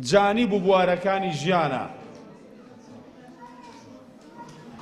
جانب و بوارەکانی ژیانە.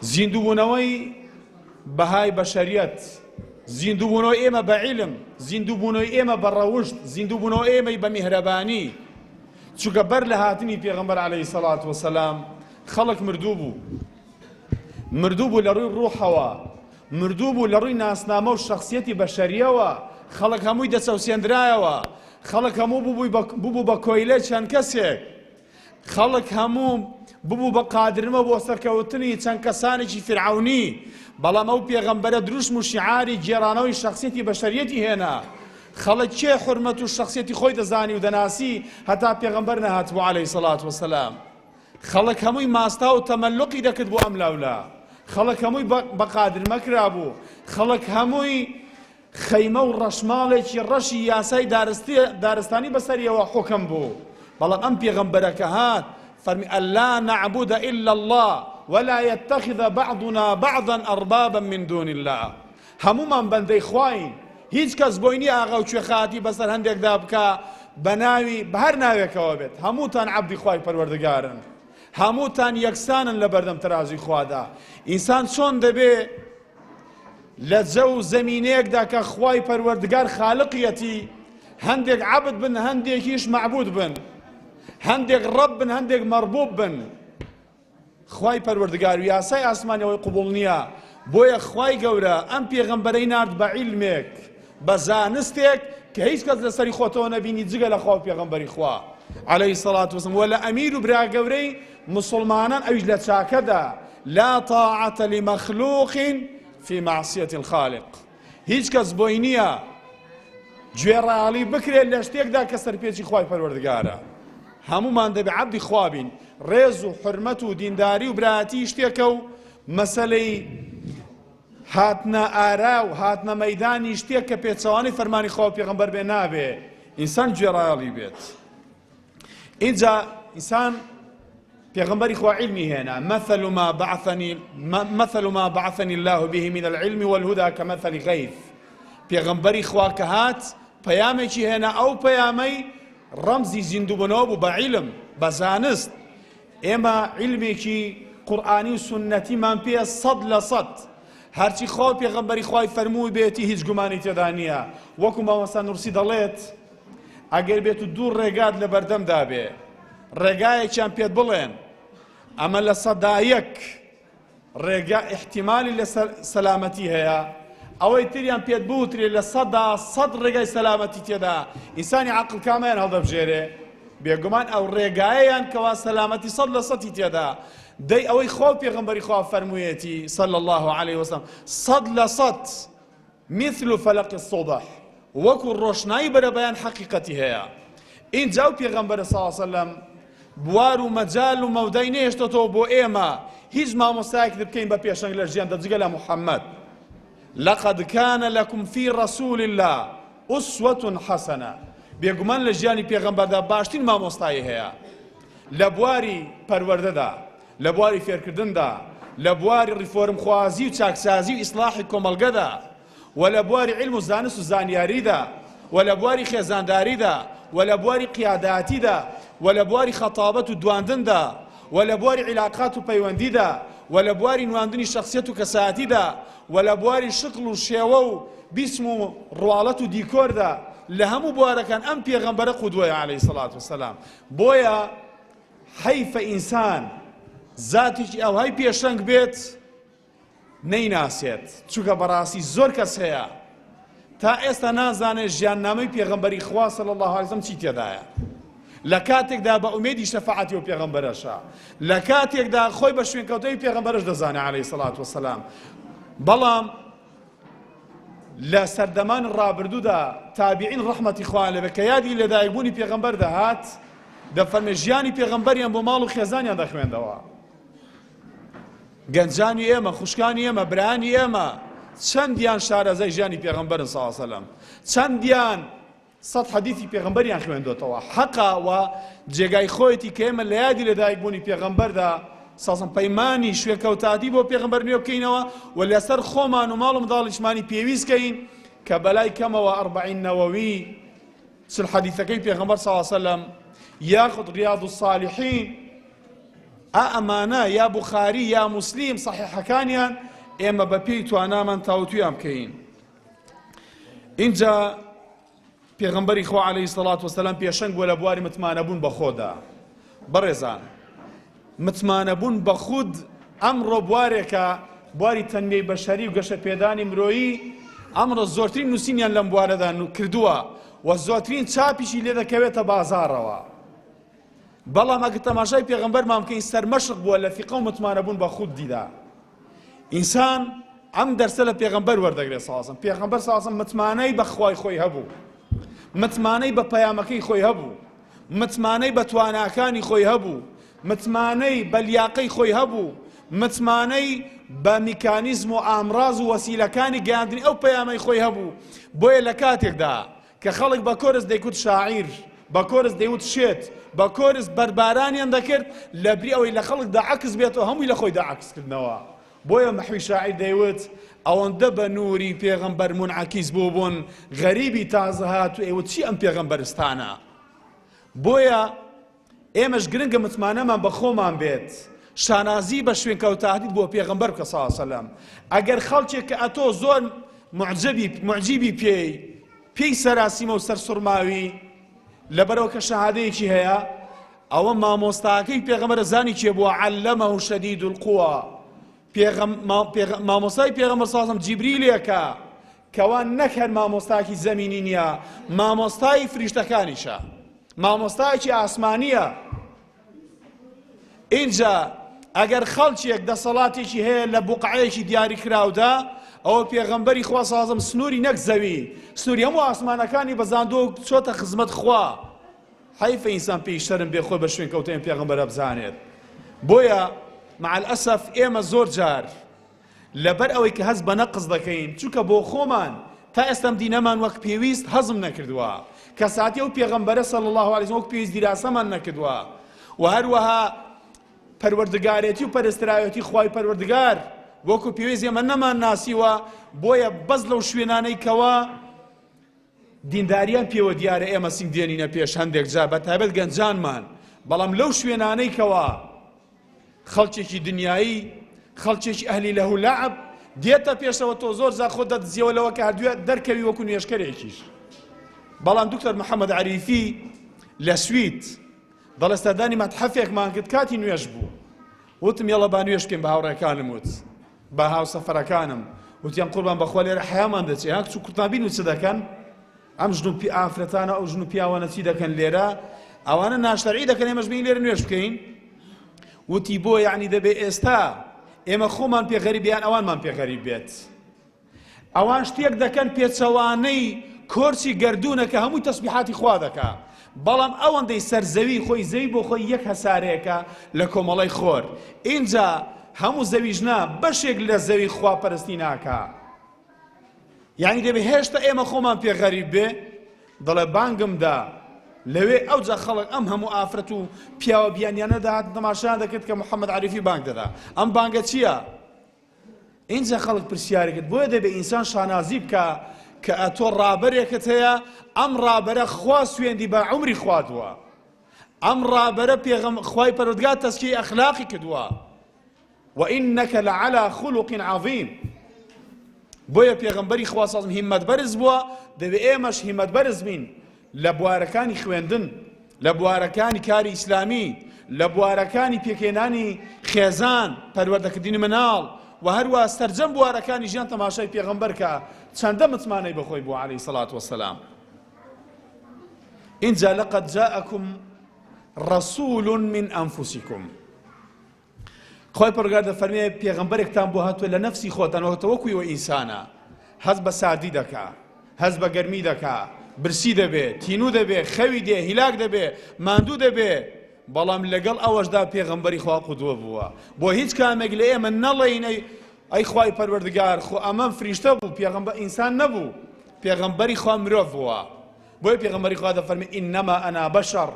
زیندووبوونەوەی بەهای بەشەریەت، زیندووبوونەوەی ئێمە بە عیلم، زیندووبوونەوەی ئێمە بە ڕەوشت، زیندووبوونەوە ئێمەی بە میهرەبانی، چونکە بەر لە هاتنی پێغەمبەر عەلەیهی سەڵات وەسەلام خەڵک مردوو بوو مردوو بوو لە ڕووی ڕوحەوە مردوو بوو لە ڕووی ناسنامە و شەخسیەتی بەشەریەوە خەڵک هەمووی دەچەوسێندرایەوە خەڵک هەموو ببووی بە ببوو بە کۆیلەی چەند کەسێک خەڵک هەموو ببوو بە قادرمە بۆ سەرکەوتنی چەند کەسانێکی فرعونی بەڵام ئەو پێغەمبەرە دروشم و شیعاری گێرانەوەی شەخسیەتی بەشەریەتی هێنا خەڵک کێ حرمەت و شەخسیەتی خۆی دەزانی و دەناسی هەتا پێغەمبەر نەهاتبوو عەلەیهی سەڵات وەسەلام خەڵک هەمووی ماستا و تەمەلوقی دەکرد بۆ ئەم لاولا، خەڵک هەمووی بە قادرمەکرا بوو، خەڵک هەمووی خەیمە و ڕەشماڵێکی ڕەشی یاسای دارستانی بەسەریەوە حوکم بوو، بەڵام ئەم پێغەمبەرە کە هات فەرمی اللە نعبد الا اللە ولا یتخذ بعضنا بعضا اربابا من دون اللە، هەموومان بەندەی خواین هیچ کەس بۆی نیە ئاغا و کوێخایەتی بەسەر هەندێکدا بکا بە ناوی بە هەر ناوێکەوە بێت هەمووتان عەبدی خوای پەروەردگارن هەمووتان یەکسانن لە بەردەم تەرازوی خوادا ئینسان چۆن دەبێ لە جەو و زەمینەیەکدا کە خوای پەروەردگار خالقیەتی هەندێک عەبد بن هەندێکیش مەعبود بن هەندێک ڕەب بن هەندێک مەربوب بن خوای پەروەردگار و یاسای ئاسمانیەوەی قبوڵ نیە بۆیە خوای گەورە ئەم پێغەمبەرەی نارد بە عیلمێک بە زانستێک کە هیچ کەس لەسەری خۆتەوە نەبینی جگە لە خوا و پێغەمبەری خوا عەلەیهی سەڵات وسم وە لە ئەمیر و برا گەورەی مسلمانان ئەویش لە چاکەدا لا طاعەتە لمەخلوق فی معصیەت الخالق هیچ کەس بۆی نییە گوێڕایەڵی بکرێت لە شتێکدا کە سەرپێچی خوای پەروەردگارە هەمومان دەبێ عەبدی خوا بین ڕێز و حرمەت و دینداری و برایەتی شتێکە و مەسلەی هاتنە ئارا و هاتنە مەدانی شتێک کە پێچەوانی فەرمانی خوا پێغمبەر بێ نابێ ئینسان گوێڕایەڵی بێت ئینجا ئینسان پێغمبەری خوا علمی هێنا مثل ما بعثني مثل ما بعثني الله به من العلم والهدى كمثل غيث پێغمبەری خوا کە هات پەیامێکی هێنا ئەو پەیامەی ڕەمزی زیندوبنەوە بوو بە عیلم بە زانست ئێمە علمێکی قورآانی و سنەتیمان پێ سەد لە سەد هەرچی خوا پێغمبەری خوای فەرمووی بێتی هیچ گومانی تێدا نییە وەکو مامەستا نورسی دەڵێت ئەگەر بێت و دوو ڕێگات لە بەردەمدا بێ ڕێگایەکیان پێت بڵێن ئەمە لە سەدایەک ڕێگا احتیمالی لە سەلامەتی هەیە ئەوەی تریان پێت بوترێ لە سەدا سەد ڕێگای سەلامەتی تێدا ئینسانی عقل کامیان هەڵدەبژێرێ بێگومان ئەو ڕێگایەیان کەوا سەلامەتی سەد لە سەتی تێدا دەی ئەوەی خۆ پێغمبەری خوا فەرموویەتی سەل الله عليه وسلم سەد لە سەد مثل فلق الصبح وەکو ڕۆشنایی بەرەبەیان حەقیقەتی هەیە ئینجا و پێغەمبەرە صلی اللە علیە وسلم بوار و مەجال و مەودای نەهێشتەتەوە بۆ ئێمە هیچ مامۆستایەک بکەین بە پێشەنگ لە ژیان دەجگە لە محەممەد لقد كان لكم في رسول الله أسوة حسنة بێگومان لە ژیانی پێغەمبەردا باشترین مامۆستایی هەیە لە بواری پەروەردەدا لە بواری فێرکردندا، لە بواری ڕیفۆرمخوازی و چاکسازی و ئیسڵاحی کۆمەڵگەدا و لە بواری عیلم و زانست و زانیاریدا و لە بواری خێزانداریدا و لە بواری قیاداتیدا و لە بواری خەتابەت و دواندندا و لە بواری عیلاقات و پەیوەندیدا و لە بواری نواندنی شەخسیەت و کەسایەتیدا و لە بواری شکڵ و شێوە و بیسم و ڕواڵەت و دیکۆردا لە هەموو بوارەکان ئەم پێغەمبەرە قودوەیە عەلەیهی سەڵات وسەلام بۆیە حەیفە ئینسان زاتێکی ئاوهای پێشەنگ بێت نەیناسێت چونکە بەڕاستی زۆر کەس هەیە تا ئێستا نازانێت ژیاننامەی پێغەمبەری خوا صلی الله علیه وسلم چی تێدایە لە کاتێکدا بە ئومێدی شەفاعەتی و پێغەمبەرەشە لە کاتێکدا خۆی بە شوێنکەوتەی پێغەمبەرش دەزانێت عەلەیهی سەڵات وسلام بەڵام لە سەردەمانی ڕابردوودا تابعین ڕەحمەتی خوایان لێبێت کە یادی لەدایکبوونی پێغەمبەر دەهات دەفەرمێ ژیانی پێغەمبەریان بۆ ماڵ و خێزانیان دەخوێندەوە گەنجانی ئێمە خوشکانی ئێمە برانی ئێمە چەندیان شارەزای ژیانی پێغەمبەرن ساسەلم چەندیان سەد حەدیسی پێغەمبەریان خوێندۆتەوە حەقە و جێگای خۆیەتی کە ئێمە لە یادی لەدایک بوونی پێغەمبەردا، ساسم، پەیمانی شوێکەوتاتی بۆ پێغەمبەر نوێ بکەینەوە و لەسەر خۆمان و ماڵ و منداڵیشمانی پێویست کەین کە بەلای کەمەوە ئەربەعین نەوەوی چل حەدیسەکەی پێغەمبەر صلی اللە سلم یاخود ریاض الصالحین ئا ئەمانە یا بوخاری یا موسلیم صحیحەکانیان ئێمە بە پێی توانامان تاوتویان بکەین. ئینجا پێغمبەری خوا عليهەی سەڵات وسلام پێشەنگ بووە لە بواری متمانەبوون بە خۆدا بەڕێزان متمانەبوون بە خود ئەمڕۆ بوارێکە بواری تەنمیەی بەشەری و گەشە پێدانی مرۆیی ئەمڕۆ زۆرترین نووسینیان لەم بوارەدا کردووە و زۆترین چاپیشی لێ دەکەوێتە بازارەوە بەڵام ئەگەر تەماشای پێغەمبەرمان بکەین سەرمەشق بووە لە فیقە و متمانەبوون بە خودیدا ئینسان ئەم دەرسە لە پێغەمبەر وەردەگرێت ساسم پێغەمبەر ساسم متمانەی بە خوای خۆی هەبوو متمانەی بە پەیامەکەی خۆی هەبوو متمانەی بە تواناکانی خۆی هەبوو متمانەی بە لیاقەی خۆی هەبوو متمانەی بە میکانیزم و ئامراز و وەسیلەکانی گەاندنی ئەو پەیامەی خۆی هەبوو بۆیە لە کاتێکدا کە خەڵک بە کۆرس دەیکوت شاعیر، بە کۆرس دەیوت شێت، بە کۆرس بەربارانیان دەکرد، لەبری ئەوەی لە خەڵکدا عەکس بێتەوە هەمووی لە خۆیدا عەکس کردنەوە. بۆیە محوی شاعیر دەیوت، ئەوەندە بە نووری پێغەمبەر مونعەکیس بووبوون، غەریبی تازەهاتوو ئەیوت چی ئەم پێغەمبەرستانە؟ بۆیە. ئێمەش گرنگە متمانەمان بە خۆمان بێت شانازی بە شوێنکەوتاهدیت بۆ پێغەمبەر بکە صلی سەلام ئەگەر خەڵکێک کە ئەتۆ زۆر معجبی معجیبی پێی پێی سەراسیمە و سەرسڕماوی لەبەرەوە کە شەهادەیەکی هەیە ئەوە مامۆستاکەی پێغەمبەر زانی کێ بووە علەمە و شەدید القوا پێغەم مامۆستای پێغەمبەر سازم جیبریلێکە کەوا نەک هەر مامۆستایەکی زەمینی نییە، مامۆستای فریشتەکانیشە، مامۆستایەکی ئاسمانییە. ئینجا ئەگەر خەڵکێک دەسەڵاتێکی هەیە لە بوقعەیەکی دیاری کراودا، ئەوە پێغەمبەری خوا سازم سنووری نەک زەوی، سنووری هەموو ئاسمانەکانی بەزاندۆ چۆتە خزمەت خوا. حیفە ئینسان پێی شەرم بێ خۆی بە شوێن کەوتەیان پێغەمبەرە بزانێت. بۆیە مع الاسف ئێمە زۆر جار لەبەر ئەوەی کە هەست بە نەقس دەکەین چونکە بۆ خۆمان تا ئێستەم دینەمان وەک پێویست هەزم نەکردووە کەساتی ئەو پێغەمبەرە صلی الله علیه وسلم وەک پێویست دیراسەمان نەکردووە و هەروەها پەروەردگارێتی و پەرستراوێتی خوای پەروەردگار وەکو پێویست ئێمە نەمان ناسیوە بۆیە بەس لەو شوێنانەی کەوە دینداریان پێوە دیارە ئێمە سینگ دێنینە پێش هەندێک جار بە تایبەت گەنجانمان بەڵام لەو شوێنانەی کەوا خەڵکێکی دنیایی خەڵکێکی ئەهلی لە هولعب دێتە پێشەوە تۆ زۆر جا خۆ دەدزیەوە لەوە کە هەردوێ دەرکەوی وەکو نوێشکەرێکیش بەڵام دکتۆر محەممەد عریفی لە سویت دەڵێستادانی مەتحەفێکمان کرد کاتی نوێش بوو وتم یەڵە با نوێش بکەین بە هاوڕێکانم وت بە هاوسەفەرەکانم وتیان قوربان بەخوا لێرە حەیامان دەچێ ها کچ و کوردمان بینی چ دەکەن ئەم ژن و پی ئافرەتانە ئەو ژن و پیاوانە چی دەکەن لێرە ئەوانە ناشتەرعی دەکەن ئێمەش بین لێرە نوێش بکەین وتی بۆ یعنی دەبێ ئێستا ئێمە خۆمان پێ غەریبیان ئەوانمان پێ غەریب بێت ئەوان شتێک دەکەن پێچەوانەی کۆرچی گەردوونە کە هەمووی تەسبیحاتی خوا دەکا بەڵام ئەوەندەی سەر زەوی خۆی زەوی بۆ خۆی یەک هەسارەیەکە لە کۆمەڵی خۆر ئینجا هەموو زەویش نا بەشێک لە زەوی خوا پەرستی ناکا یعنی دەبێ هێشتا ئێمە خۆمان پێ غەریب بێ دەڵێ بانگمدا لەوێ ئەو جا خەڵک ئەم هەموو ئافرەت و پیاوە بیانیانەدا هات تەماشایان دەکرد کە محەممەد عریفی بانگ دەدا ئەم بانگە چییە؟ ئینجا خەڵک پرسیاری کرد، بۆیە دەبێ ئینسان شانازی بکا کە ئەتۆ ڕابەرێکت هەیە، ئەم ڕابەرە خوا سوێندی بە عومری خوادووە، ئەم ڕابەرە پێغەم، خوای پەروەردگار تەزکیەی ئەخلاقی کردووە، وانک لعلی خلق عظیم، بۆیە پێغەمبەری خوا صلی اللە علیە و سلم هیمەت بەرز بووە، دەبێ ئێمەش هیمەت بەرز بین. لە بوارەکانی خوێندن، لە بوارەکانی کاری ئیسلامی، لە بوارەکانی پێکهێنانی خێزان، پەروەردەکردنی مناڵ و هەروا سەرجەم بوارەکانی ژیان تەماشای پێغەمبەر کە چەندە متمانەی بەخۆی بوو عەلەیهی سەڵات وەسەلام. ئینجا لەقەد جاءکم رسول من انفسکم خوای پەرۆگار دەفەرمێ پێغەمبەرێکتان بۆ هاتووە لە نەفسی خۆتان وەکتە وەکوی وە ئینسانە هەز بە ساردی دەکا هەز بە گەرمی دەکا برسی دەبێ تینوو دەبێ خەوی دێ هیلاک دەبێ ماندوو دەبێ بەڵام لەگەڵ ئەوەشدا پێغەمبەری خوا قودوە بووە بۆ هیچ کامێک لە ئێمە نەڵێینەی ئەی خوای پەروەردگار خۆ ئەمەم فریشتە بوو پێغەمبەر ئینسان نەبوو پێغەمبەری خوا مرۆڤ بووە بۆیە پێغەمبەری خوا دەفەرمی انما انا بشر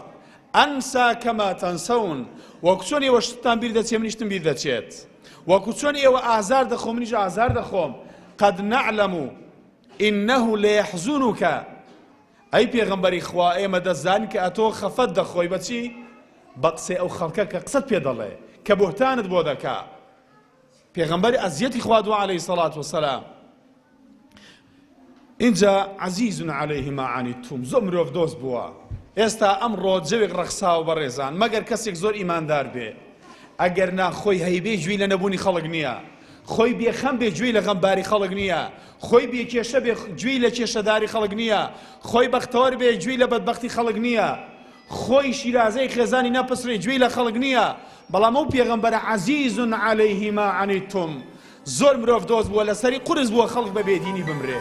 انسا کما تنسون وەکو چۆن ئێوە شتتان بیر دەچێ منیشتم بیر دەچێت وەکو چۆن ئێوە ئازار دەخۆ منیش ئازار دەخۆم قد نعلم انه ليحزنك ئەی پێغەمبەری خوا ئێمە دەزان کە ئەتۆ خەفەت دەخۆی بەچی بە قسەی ئەو خەڵکە کە قسەت پێ دەڵێ کە بهتانت بۆ دەکا پێغەمبەر ئەزیەتی خوا دووە عليهەی سەڵات وسلام ئینجا عزیز علیه ما عنیتم زۆر مرۆڤ دۆست بووە ئێستا ئەم ڕۆجەوێک ڕەخساوە بەڕێزان مەگەر کەسێک زۆر ئیماندار بێ ئەگەر نا خۆی هەیبێ جوێی لە نەبوونی خەڵک نییە خۆی بێخەم بێ گوێی لە غەمباری خەڵک نییە خۆی بێ کێشە بێ گوێی لە کێشەداری خەڵک نییە خۆی بەختەوەر بێ گوێی لە بەدبختی خەڵک نییە خۆی شیرازەی خێزانی نەپسرێ گوێی لە خەڵک نییە بەڵام ئەو پێغەمبەرە عزیز علیهما عنیتم زۆر مرۆڤ دۆست بووە لەسەری قورس بووە خەڵک بە بێدینی بمرێ.